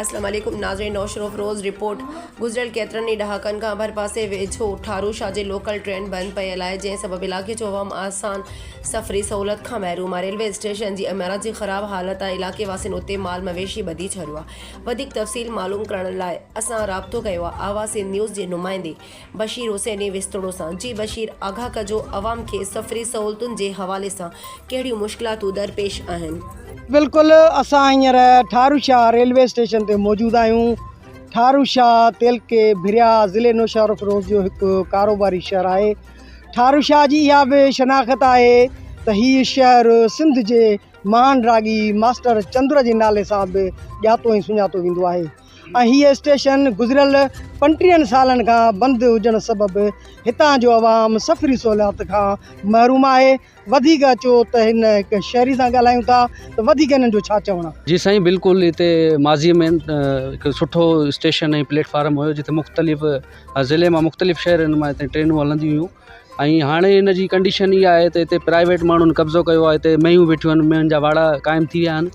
اسلام عليڪم ناظرين نوشھروفروز رپورٽ، گذريل ڪيترن ئي ڏهاڪن کان ڀرپاسي ويجهو ٺارو شاهه جي لوڪل ٽرين بند پيل آهي جنهن سبب علائقي جو عوام آسان سفري سهولت کان محروم آهي ريلوي اسٽيشن جي عمارت جي خراب حالت ۽ علائقي واسين اتي مال مويشي ٻڌي ڇڏيو آهي وڌيڪ تفصيل معلوم ڪرڻ لاء اسان رابطو ڪيو آهي آواز سنڌ نيوز جي نمائندي بشير حسيني ويستوڻو سان جي بشير آگاھ ڪجو عوام کي سفري سهولتن جي حوالي سان ڪهڙيون مشڪلاتون درپيش آهن. بلڪل اسان هينئر ٺارو شاھ ريلوي اسٽيشن تي موجود آهيون ٺارو شاھ تعلقي ڀريا ضلعي نوشهروفيروز جو هڪ ڪاروباري شهر آهي ٺارو شاھ جي اها به شناخت آهي ته هي شهر سنڌ جي مهان راڳي ماسٽر چندر جي نالي سان به ڄاتو ۽ سڃاتو ويندو آهي ۽ هي اسٽيشن گذريل پنٽيهن سالن کان بند هجڻ سبب هتان جو عوام سفري سهوليات کان محروم آهي وڌيڪ اچو ته هن هڪ شهري سان ڳالهايون ٿا ته وڌيڪ هنن جو ڇا چوڻ. جي سائين بلڪل هتي ماضي ۾ هڪ سٺو اسٽيشن ۽ پليٽ فارم هيو جتي مختلف ضلعي مان مختلف شهرن مان هتي ٽرينون هلنديون هيون ۽ هاڻي هن جي ڪنڊيشن اها آهي ته هتي پرائيويٽ ماڻهن قبضو ڪيو آهي هتي مينهون ويٺيون آهن مينهن جا واڙا قائم ٿي ويا آهن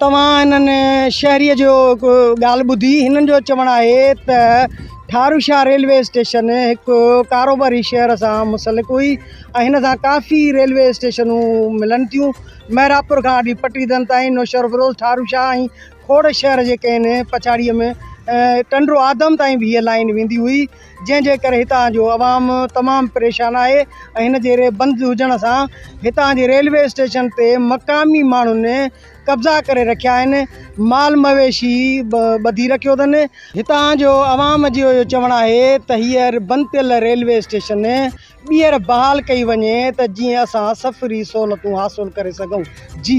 توهان هنن شهريء جو هڪ ڳالهه ٻڌي؟ هنن جو چوڻ آهي ته ٺارو شاهه ريلوي اسٽيشن هڪ ڪاروباري شهر سان منسلڪ هئي ۽ هن سان ڪافي ريلوي اسٽيشنون ملن ٿيون. محرابپور کان آڏي پٽيدن تائين نوشهروفيروز، ٺارو شاهه ۽ کوڙ شهر جي ڪنهن پڇاڙيء ۾ ٽنڊو آدم تائين به هيء لائين ويندي هئي. جنهن جي ڪري هتان جو عوام تمام پريشان آهي ۽ هن جي ري بند هجڻ سان هتان جي ريلوي اسٽيشن تي مقامي ماڻهن قبضا ڪري رکيا آهن مال مويشي به ٻڌي رکيو اٿن هتان جو عوام جي اهو چوڻ آهي ته هيء بند ٿيل ريلوي اسٽيشن ٻيهر بحال ڪئي وڃي ته جيئن اسان سفري سهولتون حاصل ڪري سگهون جي.